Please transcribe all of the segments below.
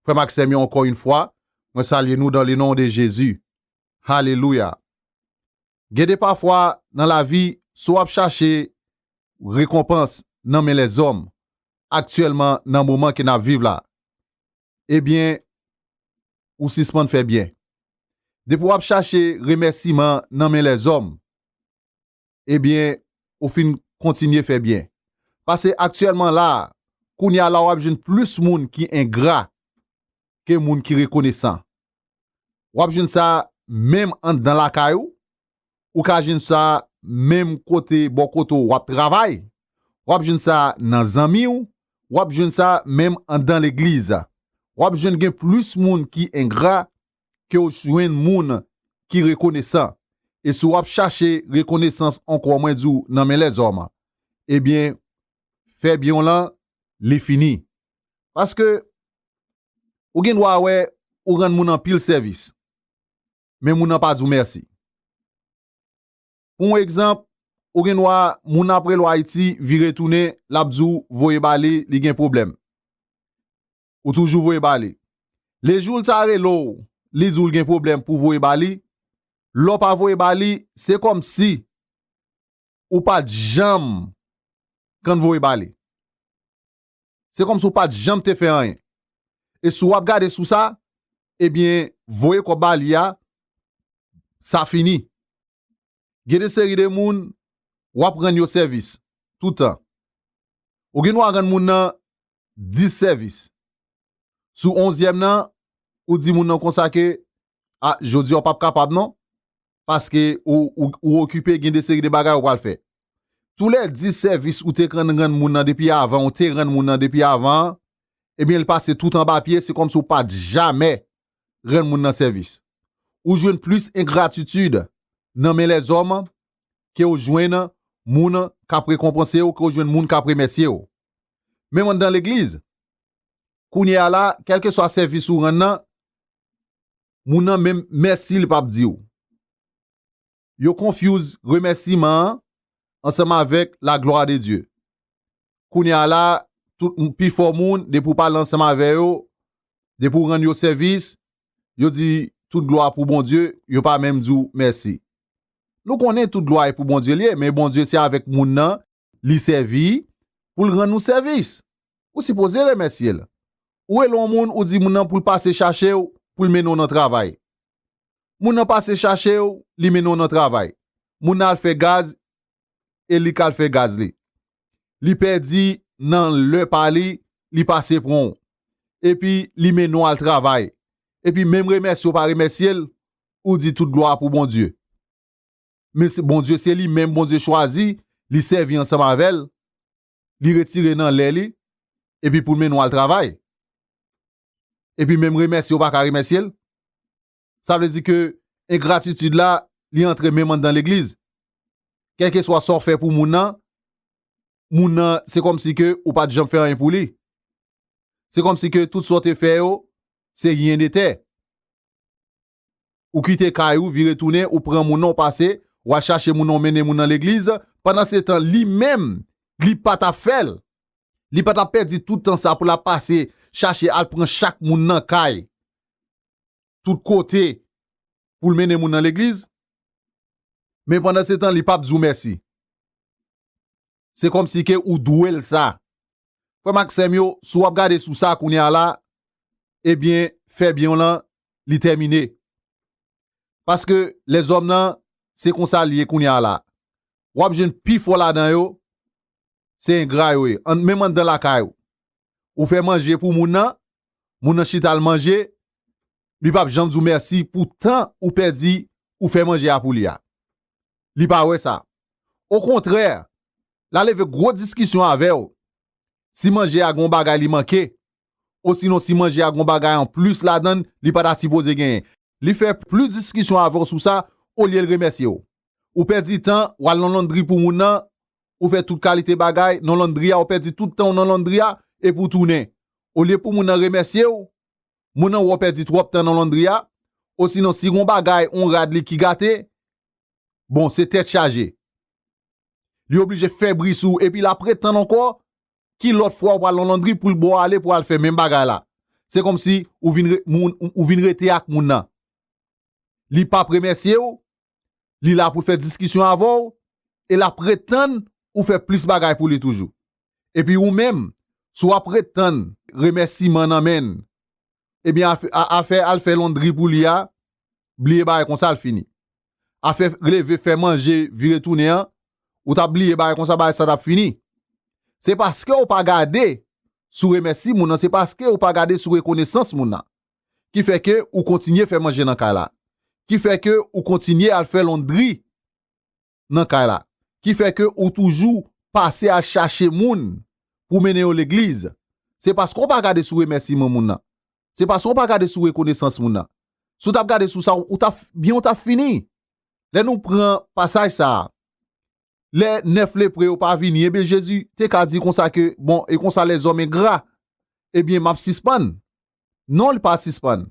Frèm ak sèm yo ankò yn fwa mwen salye nou dan le non de Jezi Hallelujah Gen de pafwa nan lavi si w ap chache rekonpans nan men lèzòm aktyèlman nan moman ke n ap viv la ebyen ou sispann fè byen depi w ap chache remèsiman nan men lèzòm ebyen ou fin kontinye fè byen. Pase aktyèlman la a, kounye a la wap jwenn plis moun ki engra ke moun ki rekonesan. Wap jwenn sa menm anndan lakay ou, ou ka jwenn sa menm kote bò kote w wap travay, wap jwenn sa nan zanmi w, wap jwenn sa menm anndan legliz. Wap jwenn gen plis moun ki engra ke w jwenn moun ki rekonesan, e si w ap chache rekonesans ankò mwen di w nan men lèzòm, ebyen fè byen w lan li fini. Paske ou gen dwa wè ou rann moun anpil sèvis, men moun nan pa di w mèsi. Pou yon egzanp, ou gen dwa moun nan ap rele w Ayiti vire tounen l ap di w voye ba li, li gen pwoblèm. ou toujou voye ba li. Le jou l ta rele w, li di w l gen pwoblèm pou w voye ba li, lè w pa voye ba li, se kòmsi ou pa t janm konn voye ba li. Se kòmsi ou pa t janm te fè anyen. E si w ap gade sou sa, ebyen voye kòb ba li a, sa fini. gen de seri de moun w ap rann yo sèvis toutan. Ou gen dwa rann moun nan dis sèvis. Sou onzyèm nan, ou di moun nan konsa ke, A, jodi a ou p ap kapab non, paske ou okipe gen de seri de bagay ou pral fè. Tou lè dis sèvis ou te konn rann moun nan depi avan, ou te rann moun nan depi avan an, ebyen li pase tout anba pye, se kòmsi ou pa t jamè rann moun nan sèvis. Ou jwenn plis engratitid nan men lèzòm ke w jwenn moun k ap rekonpanse w, ke w jwenn moun k ap remèsye w. Menm anndan legliz, kounye a la, kèlkeswa sèvis ou rann nan, moun nan menm mèsi li pap di w. Yo confuse remèsiman an ansanm avèk la glwa de Dye. Kounye a la, tout pifò moun, depi ou pale ansanm avè yo, depi ou rann yo sèvis, yo di, Tout glwa pou Bondye, yo pa menm di w mèsi. Nou konnen tout glwa e pou Bondye l ye, men Bondye se avèk moun nan li sèvi pou l rann ou sèvis. Ou sipoze remèsye l. Ou rele yon moun ou di moun nan pou l pase chache w pou l mennen w nan travay. Moun nan pase chache w li mennen w nan travay. Moun nan al fè gaz e li k al fè gaz li. Li pèdi nan lè pa li, li pase pran w. Epi li mennen w al travay. Epi menm remèsye w pa remèsye l, ou di tout glwa pou Bondye. men se Bondye se li menm Bondye chwazi li sèvi ansanm avè l li retire nan lè li epi pou l mennen w al travay epi menm remèsye ou pa ka remèsye l sa vle di ke engratitid la li antre menm anndan legliz kèlkeswa sa w fè pou moun nan moun nan se kòm si ke ou pa t janm fè anyen pou li se kòm si ke tout sa w te fè yo se ryen de tè Ou kite kay ou vire tounen ou pran moun nan ou pase wal chache moun nan ou mennen moun nan legliz pandan se tan li menm li pa tap fèl li pa tap pèdi tout tan sa poul ap pase chache al pran chak moun nan kay tout kote poul mennen moun nan legliz men pandan se tan li pap di ou mèsi. se kòmsi ke ou dwe l sa. Frè m ak sè m yo, si w ap gade sou sa kounye a la, ebyen, fè byen w lan, li tèmine. Paske, lèzòm nan, se konsa l ye kounye a la. W ap jwenn pifò ladan yo, se engra yo ye, an menm anndan lakay ou. ou fè manje pou moun nan, moun nan chita al manje, li pap janm di w mèsi pou tan ou pèdi ou fè manje a pou li a. Li pa wè sa. Okontrè, la leve gwo diskisyon avè w si manje a gen yon bagay li manke, osinon si manje a gen yon bagay an plis ladan l li pa ta sipoze genyen. Li fè plis diskisyon avè w sou sa olye l remèsye w. Ou pèdi tan w al nan londri pou moun nan, ou fè tout kalite bagay nan londri a ou pèdi tout tan ou nan londri a epi ou tounen olye pou moun nan remèsye ou moun nan wè ou pèdi twòp tan nan londri a osinon si gon bagay on rad li ki gate bon se tèt chaje li oblije fè bri sou ou epi lap ret tann ankò ki lòt fwa ou pral nan londri poul bo ale pou al fè menm bagay la se kòmsi ou vin rete ak moun nan. li pap remèsye w, li la pou l fè diskisyon avè w e l ap ret tann ou fè plis bagay pou li toujou. Epi ou menm, si w ap ret tann remèsiman nan men l, ebyen afè al fè londri pou li a, bliye bagay konsa l fini. Afè leve fè manje vire tounen an, ou ta bliye bagay konsa bagay sa t ap fini. Se paske ou pa gade sou remèsi moun nan, se paske ou pa gade sou rekonesans moun nan. ki fè ke ou kontinye fè manje nan kay la, ki fè ke ou kontinye al fè londri nan kay la, ki fè ke ou toujou pase al chache moun pou w mennen yo legliz, se paske w pa gade sou remèsiman moun nan, se paske w pa gade sou rekonesans moun nan. Si w t ap gade sou sa, ou t ap, byen ou t ap fini. Lè nou pran pasaj sa a, lè 9 lepre yo pa vini, ebyen Jezi te ka di konsa ke, bon, e konsa lèzòm engra, ebyen m ap sispann. Non, li pa sispann.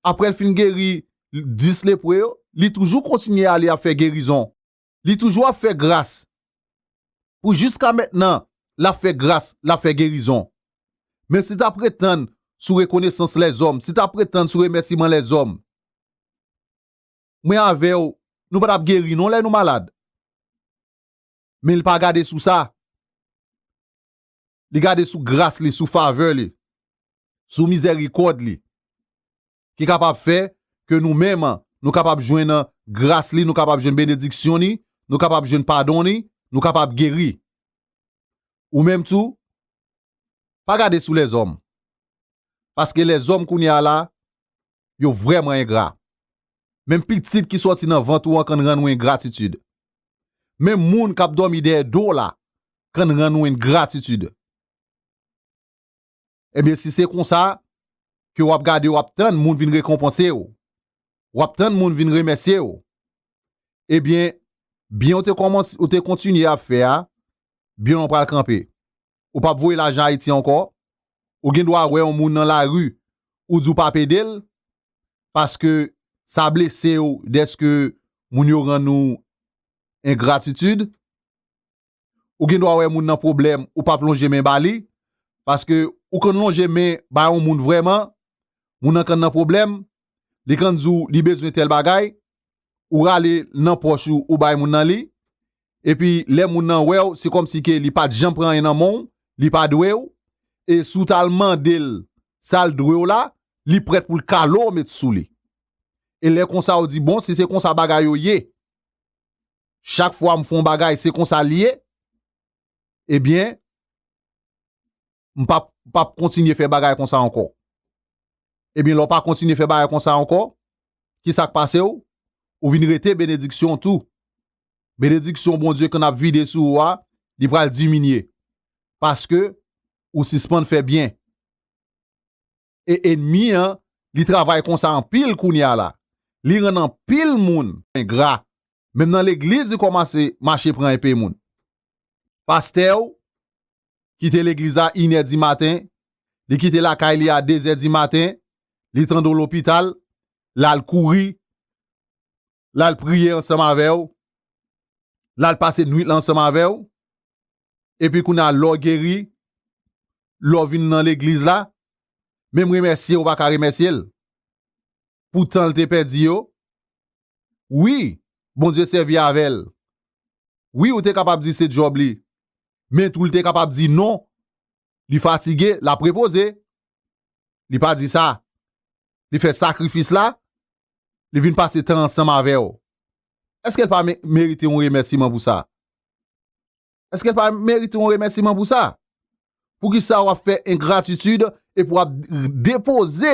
Apre l fin geri 10 lepre yo, li toujou kontinye ale ap fè gerizon. Li toujou ap fè gras. Pou jiska mentnan, l ap fè gras, l ap fè gerizon. Men si ta pretann sou rekonesans lèzòm, si ta pretann sou remèsiman lèzòm, mwen avèw nou patap geri non lè nou malad men li pa gade sou sa li gade sou gras li sou favè li sou mizèrikòd li ki kapab fè ke nou menm nou kapab jwenn gras li nou kapab jwenn benediksyon li nou kapab jwenn padon li nou kapab geri ou menm tou Pa gade sou lèzòm. Paske lèzòm kounye a la, yo vrèman engra. Menm pitit ki sòti nan vant ou an kann rann ou engratitid. Menm moun k ap dòmi dèyè do w la kann rann ou engratitid. Ebyen, si se konsa ke w ap gade w ap tann moun vin rekonpanse w, wap tann moun vin remèsye w ebyen byen ou te kòmanse ou te kontinye ap fè a byen w lan pral kanpe ou pap voye lajan ayiti ankò ou gen dwa wè yon moun nan lari ou di w pap ede l paske sa blese w dèske moun yo rann ou engratitid. ou gen dwa wè moun nan pwoblèm ou pap lonje men ba li, paske ou konn lonje men ba yon moun vrèman, moun nan konn nan pwoblèm, li konn di w li bezwen tèl bagay, ou rale l nan pòch ou ou bay moun nan li, epi lè moun nan wè w se kòmsi ke li pat janm pran anyen nan men w, li pa dwe w, e si w ta l mande l sa l dwe w la, li prèt pou l kale w met sou li. E lè konsa ou di bon si se konsa bagay yo ye. chak fwa m fon bagay se konsa li ye, ebyen, m pap kontinye fè bagay konsa ankò. Ebyen, lè w pa kontinye fè bagay konsa ankò, ki sa k pase w? Ou vin rete benediksyon tou. Benediksyon Bondye konn ap vide sou ou a, li pral diminye. Paske, ou sispann fè byen. e enmi an li travay konsa anpil kounya la li rann anpil moun engra menm nan legliz li kòmanse mache pran enpe moun pastè ou kite legliz la inè di maten li kite lakay li a dezè di maten li tande w lopital lal kouri lal priye ansanm avèw, lal pase nwit lan ansanm avèw, epi kounya lè w geri, lè w vin nan legliz la, menm remèsye ou pa ka remèsye l pou tan l te pèdi yo, wi Bondye sèvi avè l, wi ou te kapab di se djòb li, men tou li te kapab di non, li fatige, lap repoze, li pa di sa, li fè sakrifis la, li vin pase tan ansanm avè w, èske l pa merite yon remèsiman pou sa? Èske l pa merite yon remèsiman pou sa? Poukisa w ap fè engratitid epi w ap depoze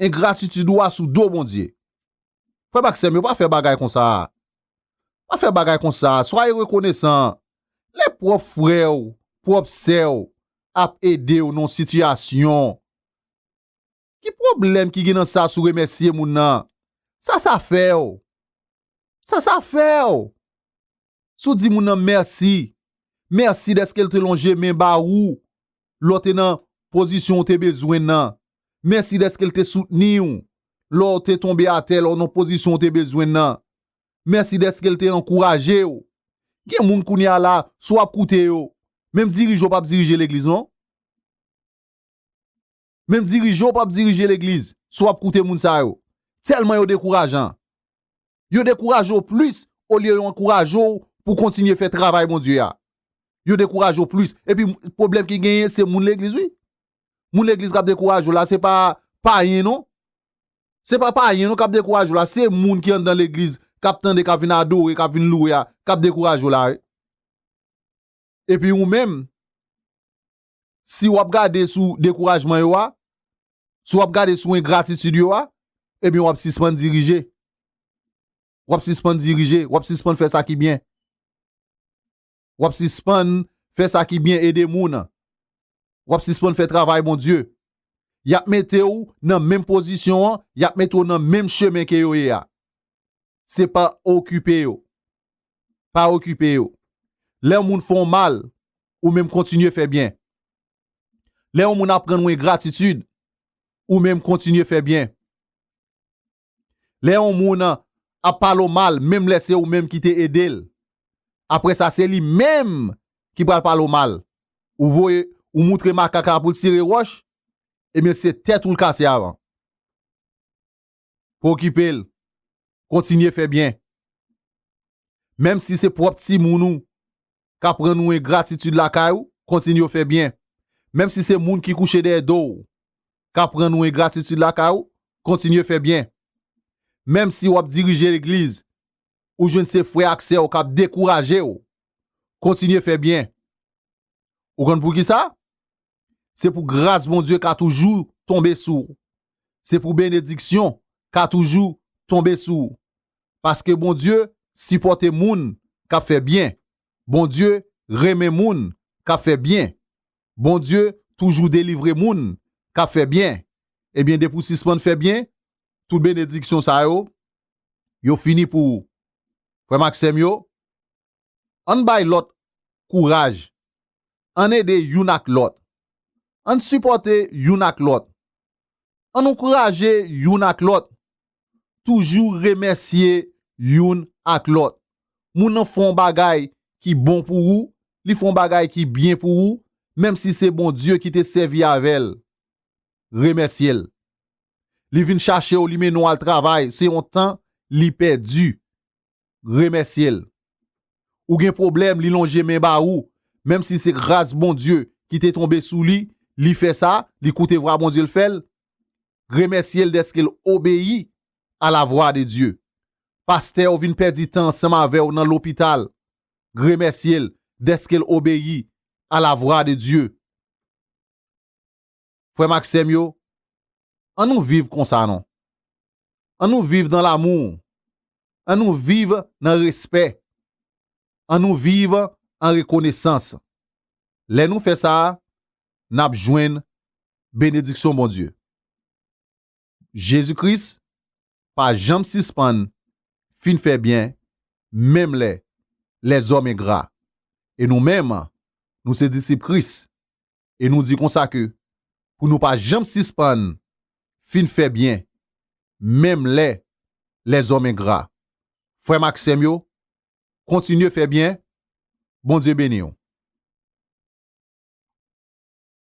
engratitid ou a sou do Bondye? Frè m ak sè m yo, pa fè bagay konsa. Pa fè bagay konsa. Swaye rekonesan. Lè pwòp frè w, pwòp sè w ap ede w nan yon sitiyasyon, Ki pwoblèm ki gen nan sa si w remèsye moun nan? Sa sa fè w? Sa sa fè w? Si w di moun nan mèsi, mèsi dèske l te lonje men ba ou lè w te nan pozisyon ou te bezwen nan, mèsi dèske l te soutni w lè w te tonbe atè, lè w nan pozisyon ou te bezwen nan, mèsi dèske l te ankouraje w. Gen moun kounye a la, si w ap koute yo, menm dirije w pa p dirije legliz non. Menm dirije ou pap dirije legliz si w ap koute moun sa yo. Tèlman yo dekourajan. Yo dekouraje w plis olye yo ankouraje w pou w kontinye fè travay Bondye a. Yo dekouraje w plis. Epi pwoblèm ki genyen se moun legliz wi. Moun legliz k ap dekouraje w la se pa payen non. Se pa payen non k ap dekouraje w la. Se moun ki anndan legliz k ap tande k ap vin adore, k ap vin louwe a k ap dekouraje w la wi. Epi ou menm. si wap gade sou dekourajman yo a, si wap gade sou engratitud yo a, ebyen wap sispann dirije. Wap sispann dirije, wap sispann fè sa ki byen. Wap sispann fè sa ki byen ede moun. Wap sispann fè travay Bondye. Yap mete ou nan menm pozisyon an, yap mete ou nan menm chemen ke yo ye a. se pa okipe yo. Pa okipe yo. Lè yon moun fè w mal, ou menm kontinye fè byen. Lè yon moun ap rann w engratitid, ou menm kontinye fè byen. Lè yon moun ap pale w mal, menm lè se ou menm ki te ede l, apre sa se li menm ki pral pale w mal. Ou voye, ou moutre makak la pou l tire wòch, ebyen se tèt ou l kase avan. pokipel kontinye fè byen menm si se pwòp timoun ou kap rann ou engratitid lakay ou kontinye fè byen menm si se moun ki kouche dèyè dow kap rann ou engratitid lakay ou kontinye fè byen menm si wap dirije legliz ou jwenn se frè ak sèw kap dekourajew kontinye fè byen ou konn poukisa Se pou gras Bondye ka toujou tonbe sou ou. Se pou benediksyon ka toujou tonbe sou ou. Paske Bondye sipòte moun k ap fè byen. Bondye renmen moun k ap fè byen. Bondye toujou delivre moun k ap fè byen. Ebyen depi w sispann fè byen, tout benediksyon sa yo, yo fini pou ou. Frè m ak sè m yo, Ann bay lòt kouraj. Ann ede youn ak lòt. Ann sipòte youn ak lòt. Ann ankouraje youn ak lòt. Toujou remèsye youn ak lòt. Moun nan fè yon bagay ki bon pou ou, li fè yon bagay ki byen pou ou, menm si se Bondye ki te sèvi avè l, remèsye l. Li vin chache w, li mennen w al travay, se yon tan li pèdi. remèsye l. Ou gen pwoblèm li lonje men ba ou, menm si se gras Bondye ki te tonbe sou li, li fè sa, li koute vwa Bondye l fè l, remèsye l dèske l obeyi a la vwa de Dye. Pastè ou vin pèdi tan ansanm avè w nan lopital, remèsye l dèske l obeyi a la vwa de Dye. Frè m ak sè m yo, an nou viv konsa non. An nou viv nan lamou. An nou viv nan respè. An nou viv an rekonesans. Lè nou fè sa a, n ap jwenn benediksyon Bondye. Jezi Kris pa janm sispann fin fè byen menm lè lèzòm engra. E nou menm, nou se disip Kris, e nou di konsa ke pou nou pa janm sispann fin fè byen menm lè lèzòm engra. Frè m ak sè m yo, kontinye fè byen, Bondye beni w.